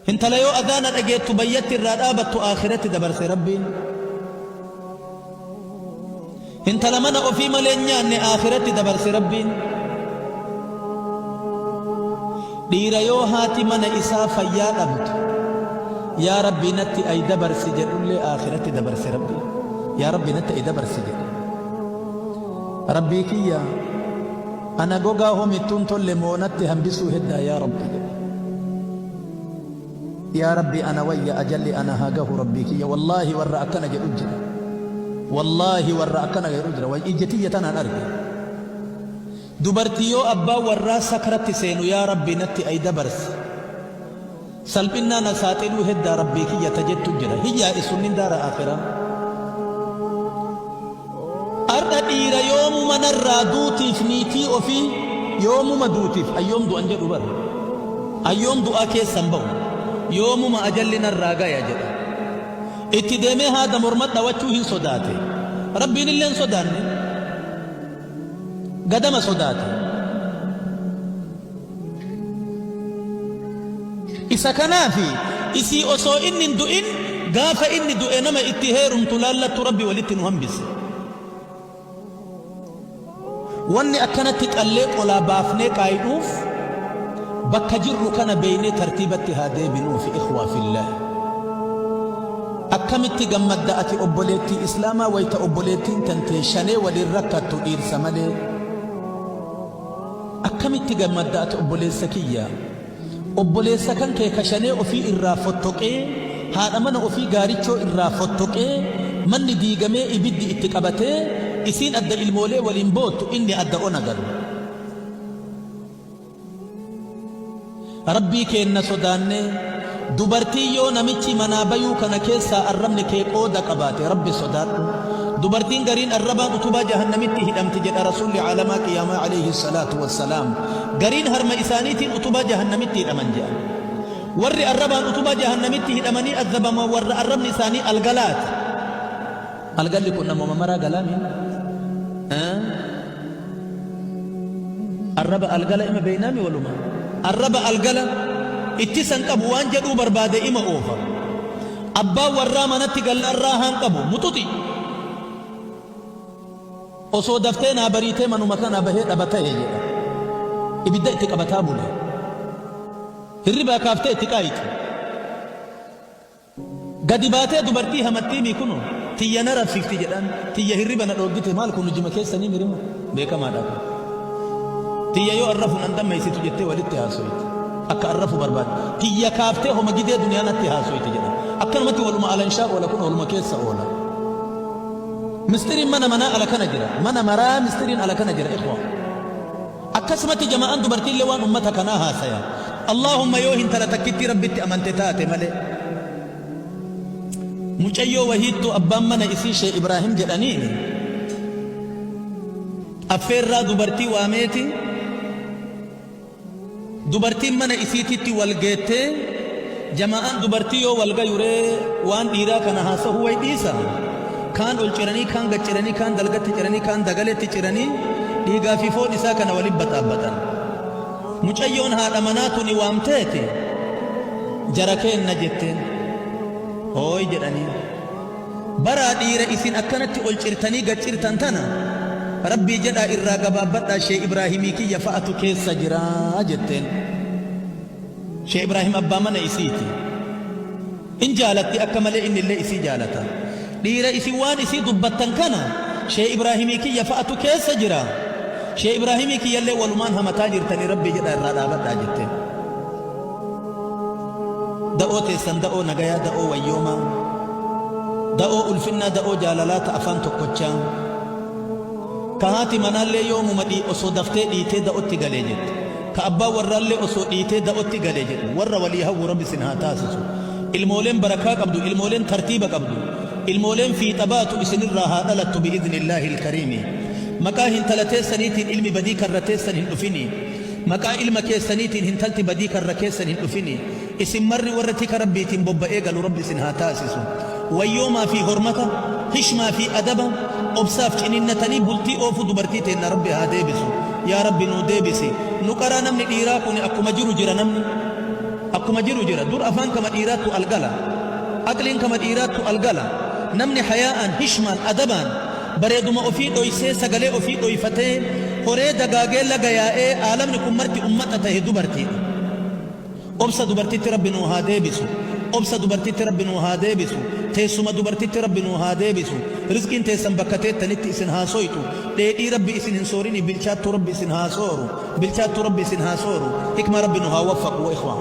Hintala yoo adhaana dhageettu bayyatti irraa dhaabattu aakhiratti dabarse Rabbiin. Hintala mana ofii malee hin nyaanne aakhiratti dabarse Rabbiin. Dhiira yoo haati mana isaa fayyaa dhabdu yaa Rabbii natti ay dabarsi jedhullee aakhiratti dabarse Rabbiin. Yaa Rabbii natti ay dabarsi jedhe. Rabbii kiyyaa Ana gogaa homittuun tolle moo natti hambisuu heddaa yaa rabbi yaa rabbi ana wayya ajalli ana haa gahu rabbii kiyya wallahi warra akkana jedhu jira wallahi warra akkana jedhu jira way ijja tiyya tanaan arge dubartii yoo abbaan warraa sakratti seenu yaa rabbi natti ay dabarsi Salphinnaa na saaxiluu heddaa Rabbii kiyya ta jettu jira hin yaadessu inni daara aakhiraa. Ardha dhiira yoomuma narraa duutiif niitii ofii yoomuma duutiif an yoom du'an jedhu bar an yoom du'aa keessan ba'u yoomuma ajalli narraa gaya jedha itti deemee haada morma dhawachuu hin sodaate Rabbiin illee hin sodaanne Gadama sodaate. Isa kanaafi isii osoo inni hin du'in gaafa inni du'e nama itti heerumtu laallattu Rabbi walitti nu hambise. Wanni akkanatti qallee qolaa baafnee qaayidhuuf bakka jirru kana beeynee tartiibatti haa deebinuufi ikhwaa fillaah. Akkamitti gammadda ati obboleettii Islaamaa wayta obboleettiin tantee shanee waliin rakkattu dhiirsa malee? Akkamitti gammadda ati obboleessa kiyya? Obboleessa kan kee ka shanee ofii irraa fottoqee, haadha mana ofii gaarichoo irraa fottoqee, manni diigamee ibiddi itti qabatee, isiin adda ilmoolee waliin boottu, inni adda ona galu. Rabbii keenna sodaannee, dubartiin yoo namichi manaa bayuu kana keessaa arrabni kee qooda qabaate Rabbi sodaadhu. Dubartiin gariin arrabaan utubaa jahannamitti hidhamti jedha Rasuulli Caalamaa Qiyaamaa Aleyhi Salaatu Wassalaam. Gariin harma isaaniitiin utubaa jahannamitti hidhaman jedhan. Warri arrabaan utubaa jahannamitti hidhamanii azzabaman warra arrabni isaanii algalaati. Algalli kun namuma maraa galaami. Arraba algala ima beeynaami waluma. Arraba algala ittisan qabu waan jedhuu barbaade ima oofa. Abbaan warraa manatti gallaan raahaan qabu muxuxi. Osoo daftee naa bariitee manuma kanaa bahee dhaba tahe jedha. Ibidda itti qabataa bule. Hirribaa kaaftee itti qaayiti. Gadi baatee dubartii hamattii mii kuno tiyya na rabsifti jedhaan tiyya hirriba na dhooggite maal kun hujima keessanii mirimo beekamaadha kun tiyya yoo an rafu nan dammaysitu jettee walitti haasoyte akka an rafu barbaadde tiyya kaaftee homa gidee duniyaa natti haasoyte jedhan akkanumatti waluma alanshaa oola kun ooluma keessa oola mistiriin mana manaa ala kana jira mana maraa mistiriin ala kana jira ikhwaa Akkasumatti jama'aan dubartiillee waan ummata kanaa haasayan. Allaahumma yoo hintala takkittii Rabbitti amante taate malee. Mucayyoo wahiittu abbaan mana isii Shee Ibraahim jedhaniin affeerraa dubartii waameeti. Dubartiin mana isiititti wal geettee jamaa'aan dubartii yoo wal gayu ree waan dhiiraa kana haasahuu way dhiisa kaan ol ciranii kaan gad ciranii kaan dalgatti ciranii kaan dagaleetti ciranii dhiigaa fi foon isaa kana waliin baxaabbatan mucayyoon haadha manaa tuni waamteeti jara keenna jetteen hooy jedhanii Baraa dhiira isin akkanatti ol cirtanii gad cirtan tana Rabbii jedhaa irraa gabaabbadhaa Shee Ibraahimii kiyya fa'atu keessa jira jetteen. Shee Ibraahim abbaa mana isiiti. In jaalatti akka malee innillee isii jaalata. Dhiira isin waan isii dubbattan kana Shee Ibraahimii kiyya fa'atu keessa jira. Shee Ibraahimii kiyyallee walumaan hamataa jirtanii Rabbii jedhaa irraa dhaabadhaa jetteen. Da'oo teessan da'oo nagayaa da'oo wayyoomaa Da'oo ulfinnaa da'oo jaalalaa ta afaan tokkochaa Ka haati manaallee yoomuma dhii osoo daftee dhiitee da'otti gale jettu Ka abbaan warraallee osoo dhiitee da'otti gale jedhu Warra walii hawwu rabbi sin haa taasisu Ilmooleen barakaa qabdu ilmooleen tartiiba qabdu Ilmooleen fiixa baatu isinirraa haa dhalattu bi'idhnillaahil kariimi Maqaa hintala teessaniitiin ilmi badii karra teessan hin dhufinii Maqaa ilma keessaniitiin hintalti badii karra keessan hin dhufinii. Isin marri warra tika Rabbiitiin bobba'ee galu Rabbi isin haa taasisu. Wayyoomaa fi hormata, hishmaa fi adaba, obsaaf ciniinnatanii bultii oofuu dubartii teenna Rabbi haa deebisu. Yaa Rabbi nuu deebisi. Nu qaraa namni dhiiraa kuni akkuma jiru jira namni. Akkuma jiru jira. Dur afaan kama dhiiraattu al gala. Aqliin kama dhiiraattu al gala. Namni hayaa'aan, hishmaan, adabaan, Bareeduma ofii dhoysee sagalee ofii dhoyfatee horee dagaagee laga yaa'ee aalamni kun marti ummata tahe dubartiidha. Obsa dubartitti rabbi nuu haa deebisu Obsa dubartitti rabbi nuu haa deebisu Teessuma dubartitti rabbi nuu haa deebisu Rizqiin teessan bakka teettanitti isin haa soytu Dheedhii rabbi isin hin soorinii Bilchaattuu rabbi isin haa sooru Bilchaattuu rabbi isin haa sooru Hikmaa rabbi nu haa waffaqu ikhwaan.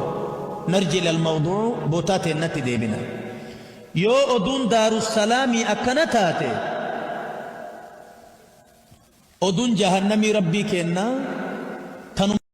Narji ilal mawduu botaa teennatti deebina. Yoo oduun daarussalaamii akkana taate oduun jahannamii rabbii keennaa tanuma.